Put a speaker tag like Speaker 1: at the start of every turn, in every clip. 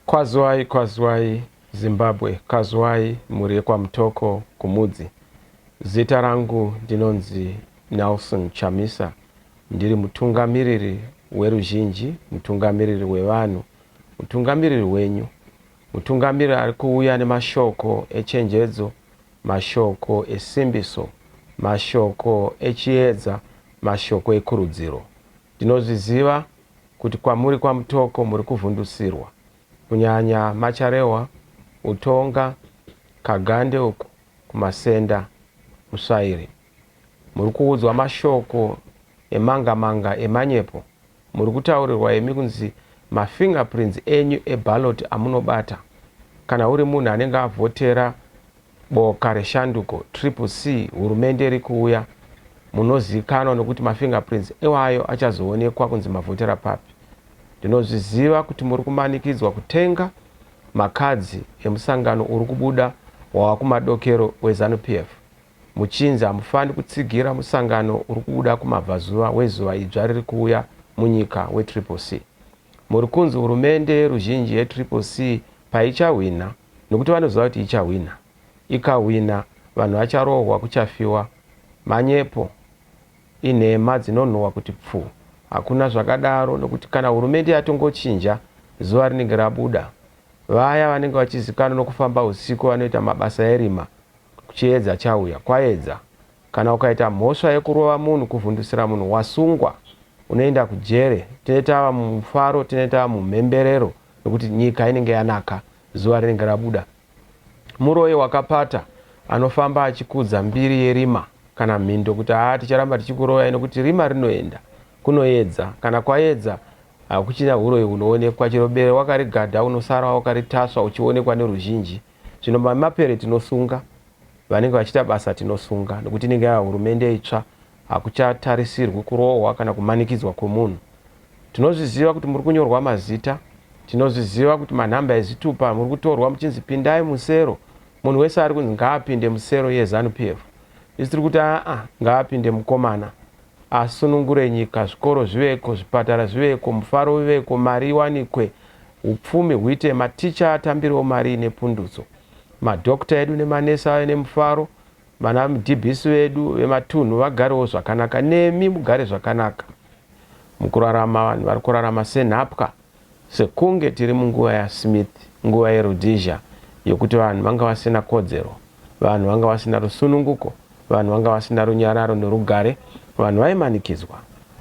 Speaker 1: Kwazwai, kwazwai Zimbabwe, kwazwai mhuri yekwaMutoko kuMudzi. Zita rangu ndinonzi Nelson Chamisa, ndiri mutungamiriri weruzhinji, mutungamiriri wevanhu, mutungamiriri wenyu. Mutungamiri ari kuuya nemashoko echenjedzo, mashoko esimbiso, mashoko echiedza, mashoko ekurudziro. Ndinozviziva kuti kwamuri kwaMutoko muri kuvhundusirwa, kunyanya Macharehwa, Utonga, Kagande uku kuMasenda, Musvairi. Muri kuudzwa mashoko emangamanga emanyepo Muri kutaurirwa imi kunzi mafingerprints enyu eballot amunobata kana uri munhu anenge avhotera boka reshanduko, Triple C, hurumende iri kuuya, munoziikanwa nokuti mafingerprints iwayo achazoonekwa kunzi mavhotera papi. Ndinozviziva kuti muri kumanikidzwa kutenga makadzi emusangano uri kubuda wava kumadokero weZanu PF. Muchinzi hamufaniri kutsigira musangano uri kubuda kumabvazuva wezuva idzva riri kuuya munyika weTriple C. Muri kunzi hurumende yeruzhinji yeTriple C paichahwinha, nokuti vanoziva kuti ichahwinha, ikahwinha vanhu vacharohwa kuchafiwa. Manyepo. Inhema dzinonhuhwa kuti pfuu. Hakuna zvakadaro nokuti kana hurumende yatongochinja zuva rinenge rabuda. Vaya vanenge vachizikanwa nokufamba husiku vanoita mabasa erima Chiedza chauya, kwaedza. Kana ukaita mhosva yekurova munhu, kuvhundusira munhu, wasungwa, unoenda kujere. Tinenge tava mumufaro, tinenge tava mumhemberero nekuti nyika inenge yanaka, zuva rinenge rabuda. Muroyi wakapata anofamba achikudza mbiri yerima kana mhindo kuti haa ticharamba tichikuroyai nekuti rima rinoenda. Kunoedza. Kana kwaedza, hakuchina huroyi hunoonekwa. Chero bere wakarigadha unosara wakaritasva uchionekwa neruzhinji. Zvino mamapere tinosunga, vanenge vachiita basa tinosunga nokuti inenge yava hurumende itsva, hakuchatarisirwi kurohwa kana kumanikidzwa kwemunhu. Tinozviziva kuti muri kunyorwa mazita, tinozviziva kuti manhamba ezitupa muri kutorwa muchinzi pindai musero, munhu wese ari kunzi ngaapinde musero yeZanu PF. Isu tiri kuti aa ngaapinde mukomana asunungure nyika, zvikoro zviveko, zvipatara zviveko, mufaro uveko, mari iwanikwe, Hupfumi huite, maticha atambirewo mari ine pundutso, madhokota edu nemanesi ave nemufaro, vana mdbs vedu vematunhu vagarewo zvakanaka nemi mugare zvakanaka. Mukurarama vanhu vari kurarama senhapwa sekunge tiri munguva yaSmith, nguva yeRhodesia yokuti vanhu vanga vasina kodzero, vanhu vanga vasina rusununguko. Vanhu vanga vasina runyararo norugare, vanhu vaimanikidzwa,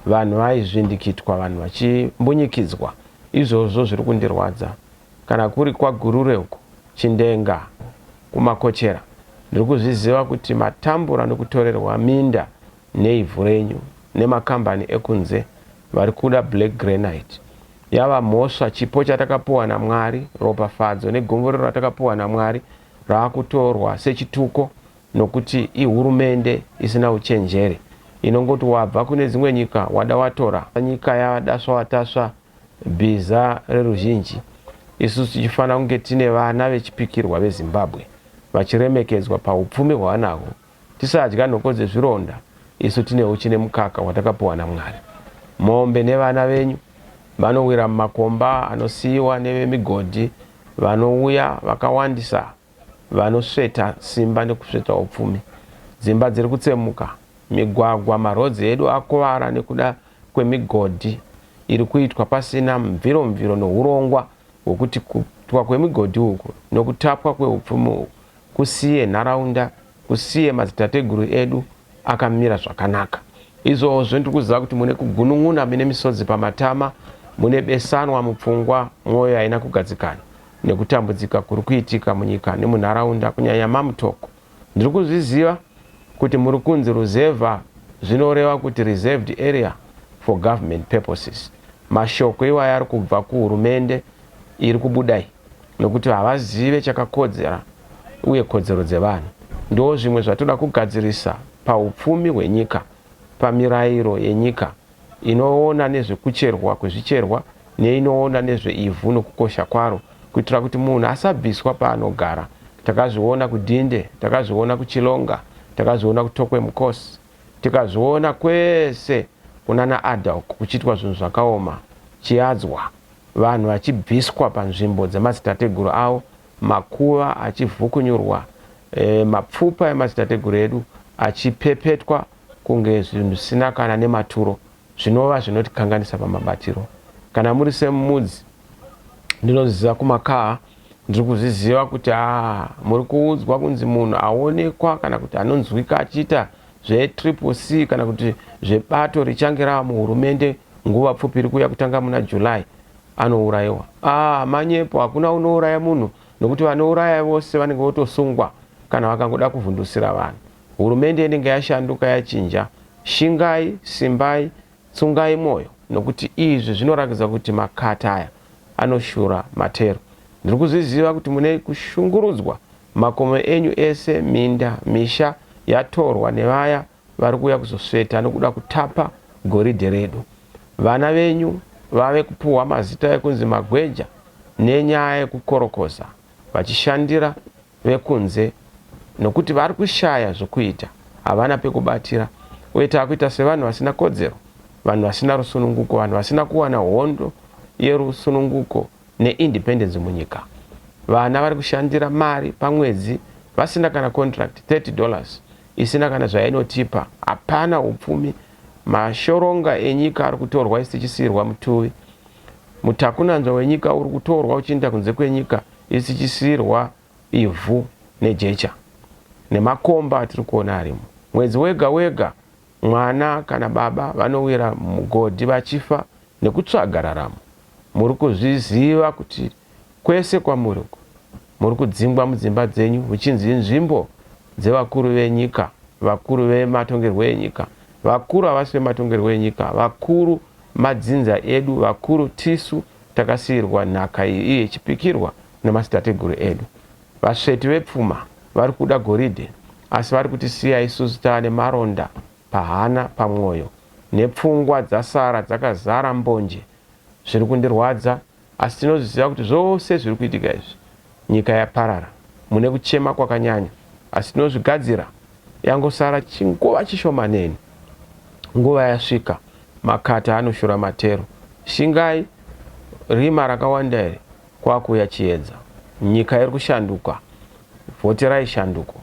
Speaker 1: vanhu vaizvindikitwa, vanhu vachimbunyikidzwa. Izvozvo zviri kundirwadza. Kana kuri kwaGurure uko, Chindenga, kuMakochera, ndiri kuzviziva kuti matambura nokutorerwa minda neivhu renyu nemakambani ekunze, vari kuda black granite. Yava mhosva, chipo chatakapuwa naMwari, ropafadzo negumburiro ratakapuwa naMwari rava kutorwa sechituko. nokuti ihurumende isina uchenjeri inongoti wabva kune dzimwe nyika wada watora nyika yatasva watasva bhiza reruzhinji isusu tichifanira kunge tine vana vechipikirwa vezimbabwe vachiremekedzwa paupfumi hwavanahwo tisadya nhoko dzezvironda isu tine uchi nemukaka hwatakapiwa namwari mombe nevana venyu vanowira mumakomba anosiyiwa nevemigodhi vanouya vakawandisa Vanosveta simba nekusveta upfumi. Dzimba dziri kutsemuka. Migwagwa, maroads edu akuvara nekuda kwemigodhi iri kuitwa pasina mviro-mviro nehurongwa hwekuti kuitwa kwemigodhi uku nekutapwa kweupfumi uku kusiye nharaunda, kusiye madzitateguru edu akamira zvakanaka. Izvozvi ndiri kuziva kuti mune kugunun'una, mune misodzi pamatama, mune besanwa mupfungwa, mwoyo haina kugadzikana nekutambudzika kuri kuitika munyika nemunharaunda, kunyanya maMutoko. Ndiri kuzviziva kuti muri kunzi ruzevha zvinoreva kuti reserved area for government purposes. Mashoko iwayo ari kubva kuhurumende iri kubuda iyi. nokuti havazive chakakodzera uye kodzero dzevanhu. Ndoo zvimwe zvatoda kugadzirisa pahupfumi hwenyika pamirairo yenyika inoona nezvekucherwa kwezvicherwa neinoona nezveivhu nokukosha kwaro kuitira kuti munhu asabviswa paanogara. Takazviona kuDhinde, takazviona kuChilonga, takazviona kuTokwe Mukosi, tikazviona kwese kunana Adda uko kuchiitwa zvinhu zvakaoma. Chiadzwa. vanhu vachibviswa panzvimbo dzemadzitateguru avo, makuva achivhukunyurwa, e, mapfupa emadzitateguru edu achipepetwa kunge zvinhu zvisina kana nematuro, zvinova zvinotikanganisa pamabatiro. Kana muri semudzi, ndinozviziva kumakaha, ndiri kuzviziva kuti aa, muri kuudzwa kunzi munhu aonekwa kana kuti anonzwika achiita zvetriple C kana kuti zvebato richange rava muhurumende nguva pfupi iri kuuya kutanga muna July anourayiwa. Ah, manyepo, hakuna unouraya munhu nokuti vanouraya vose vanenge votosungwa kana vakangoda kuvhundusira vanhu. Hurumende inenge yashanduka yachinja. Shingai, simbai, Tsungai moyo nokuti izvi zvinorakidza kuti makata aya anoshura matero. Ndiri kuzviziva kuti mune kushungurudzwa, makomo enyu ese, minda, misha yatorwa nevaya vari kuuya kuzosveta nokuda kutapa goridhe redu. Vana venyu vave kupuhwa mazita ekunzi magweja nenyaya yekukorokoza vachishandira vekunze nokuti vari kushaya zvokuita, havana pekubatira uye tava kuita sevanhu vasina kodzero, vanhu vasina rusununguko, vanhu vasina kuwana hondo yerusununguko neindependence munyika. Vana vari kushandira mari pamwedzi vasina kana contract, 30 dollars isina kana zvainotipa, hapana upfumi, mashoronga enyika ari kutorwa isu tichisiirwa mutuvi, mutakunanzva wenyika uri kutorwa uchiinda kunze kwenyika. isikisirwa ivhu nejecha nemakomba atiri kuona arimo. Mwedzi wega wega mwana kana baba vanowira mumugodhi vachifa nekutsvaga raramo. Muri kuzviziva kuti kwese kwamuri uku muri kudzingwa mudzimba dzenyu muchinzi inzvimbo dzevakuru venyika, vakuru vematongerwo enyika. Vakuru havasi vematongerwo enyika, vakuru madzinza edu, vakuru tisu Takasiirwa nhaka iyi iye ichipikirwa nemadzitateguru edu. Vasveti vepfuma vari kuda goridhe asi vari kutisiya isusu taane maronda pahana, pamwoyo nepfungwa dzasara dzakazara mbonje. Zviri kundirwadza asi tinozviziva kuti zvose zviri kuitika izvi Nyika yaparara mune kuchema kwakanyanya asi tinozvigadzira yangosara chinguva chishomanene nguva yasvika makata anoshura matero shingai rima rakawanda iri kwakuuya chiedza nyika iri kushanduka vhoterai shanduko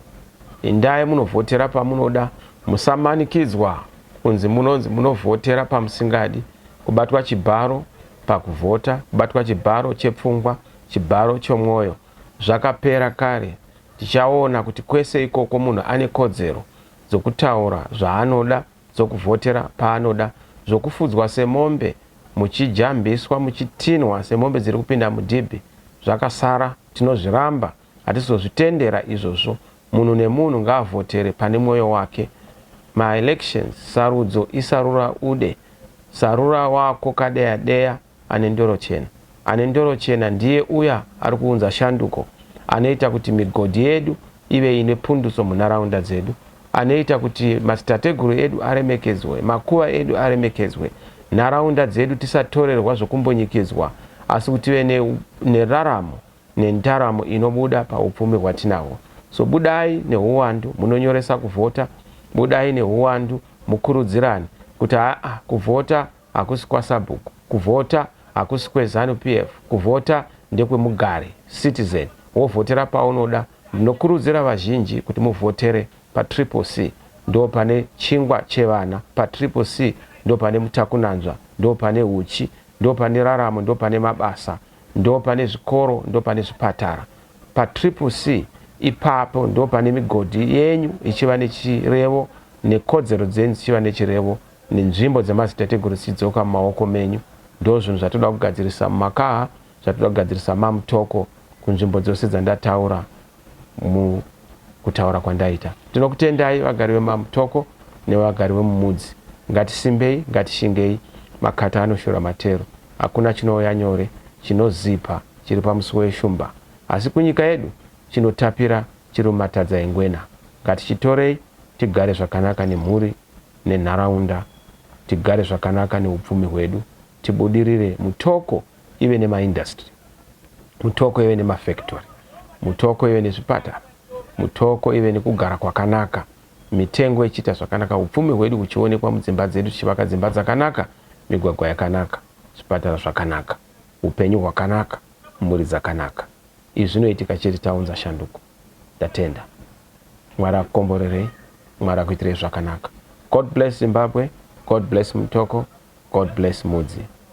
Speaker 1: indai munovhotera pamunoda musamanikidzwa kunzi munonzi munovhotera pamusingadi kubatwa chibharo pakuvhota kubatwa chibharo chepfungwa Chibharo chomwoyo zvakapera kare. Tichaona kuti kwese ikoko munhu ane kodzero dzokutaura zvaanoda, dzokuvhotera paanoda, zvokufudzwa semombe muchijambiswa, muchitinhwa semombe dziri kupinda mudhibhi. Zvakasara tinozviramba, hatisi kuzozvitendera izvozvo. Munhu nemunhu ngaavhotere pane mwoyo wake. Maelections, sarudzo, isarura ude. Sarura wako kadeya deya. ane ndoro chena. Ane ndoro chena ndiye uya ari kuunza shanduko, anoita kuti migodhi yedu ive ine pundutso munharaunda dzedu, anoita kuti madzitateguru edu aremekedzwe, makuva edu aremekedzwe, nharaunda dzedu tisatorerwa zvokumbunyikidzwa asi kuti tive ne, neraramo nendaramo inobuda paupfumi hwatinahwo. So budai nehuwandu munonyoresa kuvhota, budai nehuwandu mukurudzirane kuti haa kuvhota hakusi kwasabhuku kuvhota hakusi kweZanu PF kuvhota ndekwemugari, citizen, wovhotera paunoda ndinokurudzira vazhinji kuti muvhotere paTriple C ndopane chingwa chevana paTriple C ndopane mutakunanzva ndopane huchi ndopane raramo ndopane mabasa ndopane zvikoro ndopane zvipatara paTriple C ipapo ndopane migodhi yenyu ichiva nechirevo nekodzero dzenyu dzichiva nechirevo nenzvimbo dzemadzitateguru dzidzoka mumaoko menyu ndozvinhu zvatoda kugadzirisa mumakaha zvatoda kugadzirisa mamutoko kunzvimbo dzose dzandataura mukutaura kwandaita tinokutendai vagari vemamutoko nevagari vemumudzi ngatisimbei ngatishingei makata anoshura matero hakuna chinouya nyore chinozipa chiri pamusuwo yeshumba asi kunyika yedu chinotapira chiri mumatadza engwena ngatichitorei tigare zvakanaka nemhuri nenharaunda tigare zvakanaka neupfumi hwedu tibudirire mutoko ive nemaindustry mutoko ive nemafactory mutoko ive nezvipatara mutoko ive nekugara kwakanaka mitengo ichiita zvakanaka upfumi hwedu huchionekwa mudzimba dzedu tichivaka dzimba dzakanaka migwagwa yakanaka zvipatara zvakanaka upenyu hwakanaka mhuri dzakanaka izvi zvinoitika chete taunza shanduko. Ndatenda. Mwari akukomborerei. Mwari akuitirei zvakanaka. God bless Zimbabwe. God bless Mutoko. God bless Mudzi.